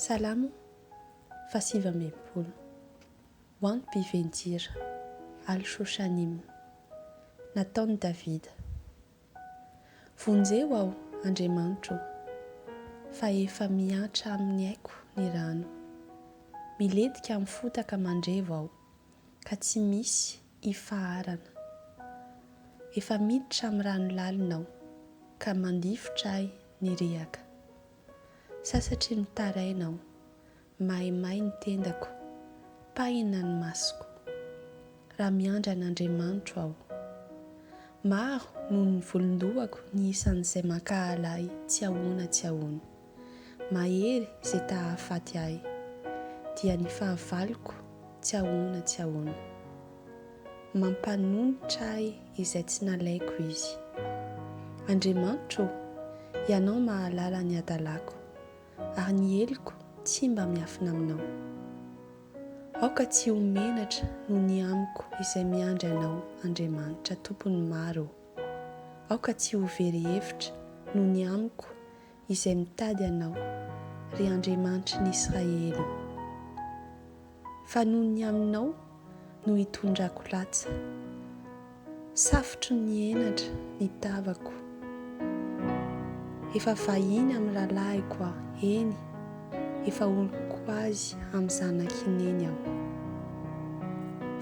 Salamo fahasivy amby enimpolo. Ho an'ny mpivenjira. Al Shoshanim. Nataon'i Davida. Vonjeo aho, Andriamanitro o, fa efa mihantra amin'ny aiko ny rano. Milentika amin'ny fotaka mandrevo aho, ka tsy misy ifaharana. Efa miditra amin'ny rano lalina aho, ka mandifotra ahy ny riaka. Sasatry ny taraina aho. Maimay ny tendako. Pahina ny masoko. Raha miandry an'Andriamanitro aho. Maro noho ny volon-dohako ny isan'izay mankahala ahy tsy ahoana tsy ahoana. Mahery izay ta hahafaty ahy. Dia ny fahavaloko tsy ahoana tsy ahoana. Mampanonitra ahy izay tsy nalaiko izy. Andriamanitra ô, Ianao mahalala ny hadalako, ary ny heloko tsy mba miafina aminao. Aoka tsy ho menatra noho ny amiko izay miandry Anao, Andriamanitra, Tompon'ny maro ô. Aoka tsy ho very hevitra noho ny amiko izay mitady anao, ry Andriamanitry ny Israely ô, fa noho ny aminao no hitondrako latsa, safotry ny henatra ny tavako, efa vahiny amin'ny rahalahiko aho, eny, efa oloko azy amin'ny zanaky neny aho,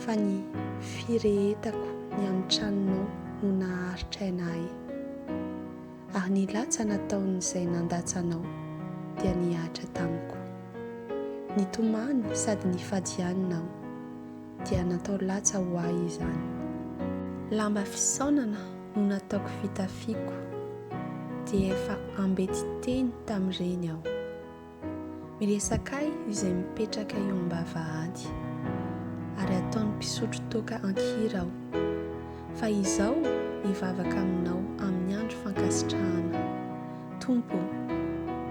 fa ny firehetako ny amin'ny tranonao no naharitra aina ahy. Ary ny latsa nataon'izay nandatsa anao dia nihatra tamiko. Nitomany sady nifady ihany naho dia natao latsa ho ahy izany. Lamba fisaonana no nataoko fitafiako, dia efa ambety teny tamin'ireny aho. Miresaka ahy izay mipetraka eo am-bavahady, ary ataon'ny mpisotro toaka an-kira aho. Fa izao mivavaka aminao amin'ny andro fankasitrahana. Tompo ô,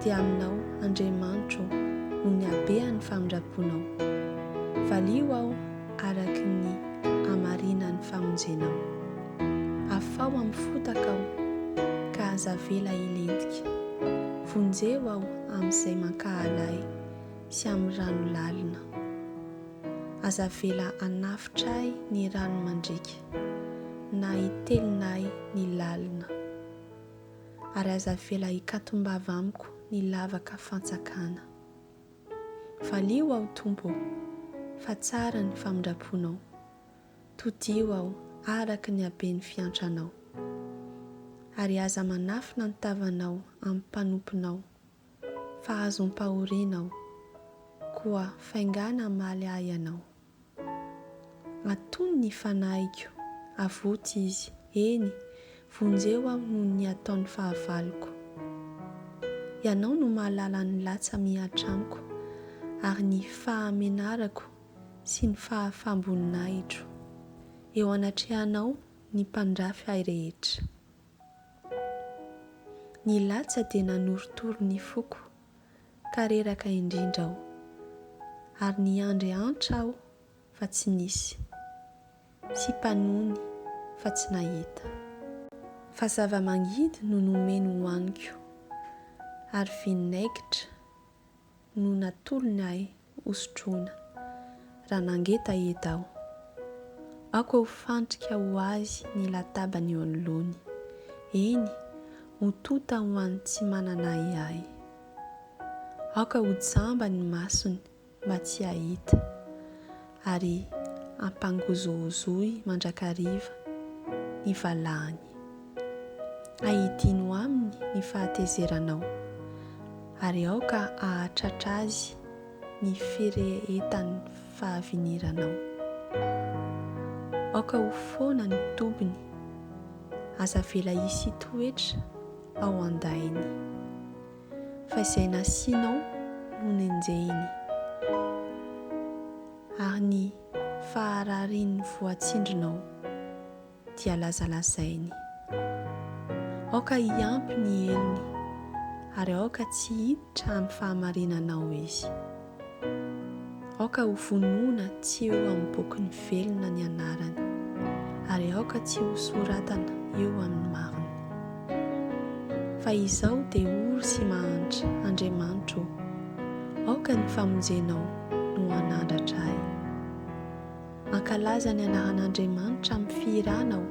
dia aminao Andriamanitro no nihabehan'ny famindraponao. Valio aho araka ny hamarinan'ny famonjenao. Afaho amin'ny fotaka aho, ka aza avela hilentika. Vonjeo aho amin'izay mankahala ahy sy amin'ny rano lalina. Aza avela hanafotra ahy ny rano mandriaka, na hitelina ahy ny lalina. Ary aza avela hikatom-bava amiko ny lavaka fantsakana. Valio aho, Tompo ô, fa tsara ny famindram-ponao. Todiho aho araka ny haben'ny fiantranao, ary aza manafina ny tavanao amin'ny mpanomponao, fa azom-pahoriana aho, koa faingàna hamaly ahy ianao. Atony ny fanahiko, avoty izy, eny, vonjeo aho noho ny ataon'ny fahavaloko. Ianao no mahalala ny latsa-mihatra amiko, ary ny fahamenarako sy ny fahafam-boninahitro eo anatrehanao ny mpandrafy ahy rehetra. Ny latsa dia nanorotoro ny foko ka reraka indrindra aho, ary niandry antra aho fa tsy nisy, sy mpanony fa tsy nahita. Fa zava-mangidy no nomeny hohaniko, ary vinaigitra no natolony ahy hosotroina raha nangeta eda aho. Aoka ho fandrika ho azy ny latabany eo anoloany, eny, ho tonta ho an'ny tsy manana ahiahy. Aoka ho jamba ny masony mba tsy hahita. ary ampangozohozoy mandrakariva ny valahany. Ahidino aminy ny fahatezeranao, ary aoka hahatratra azy ny firehetan'ny fahaviniranao. Aoka ho foana ny tobiny, aza avela hisy toetra ao an-dainy. fa izay nasianao no nenjehiny, ary ny fahararian'ny voatsindrinao dia lazalazainy. Aoka hiampy ny helony, ary aoka tsy hiditra amin'ny fahamarinanao izy. Aoka ho vonoina tsy eo amin'ny bokin'ny velona ny anarany, ary aoka tsy ho soratana eo amin'ny marina. Fa izaho dia ory sy mahantra, Andriamanitro ô, aoka ny famonjenao no hanandratra ahy. Mankalaza ny anaran'Andriamanitra amin'ny fihirana aho,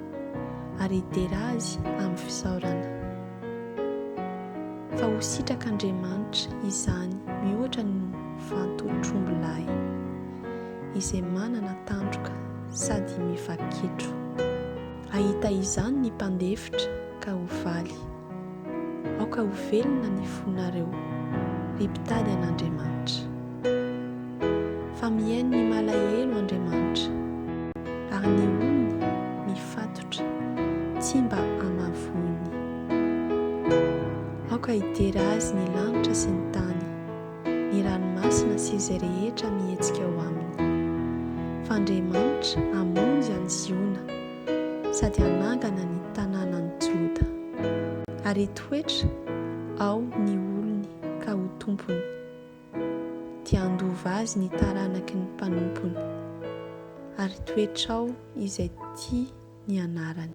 ary hidera Azy amin'ny fisaorana. Fa ho sitrak'Andriamanitra izany mihoatra ny vantotr'ombilahy, izay manana tandroka sady miva-kitro. Hahita izany ny mpandefitra, ka ho faly. Aoka ho velona ny fonareo, ry mpitady an'Andriamanitra. Fa mihaino ny malahelo Andriamanitra, ary ny ony mifatotra tsy mba amavoiny. Aoka hidera azy ny lanitra sy ny tany, ny ranomasina sy izay rehetra mihetsika ao aminy. Fa Andriamanitra hamonjy an'i Ziona. sady hanangana ny tanànan'i Joda, ary hitoetra ao ny olony ka ho tompony, dia handova azy ny taranaky ny mpanompony, ary hitoetra ao izay tia ny anarany.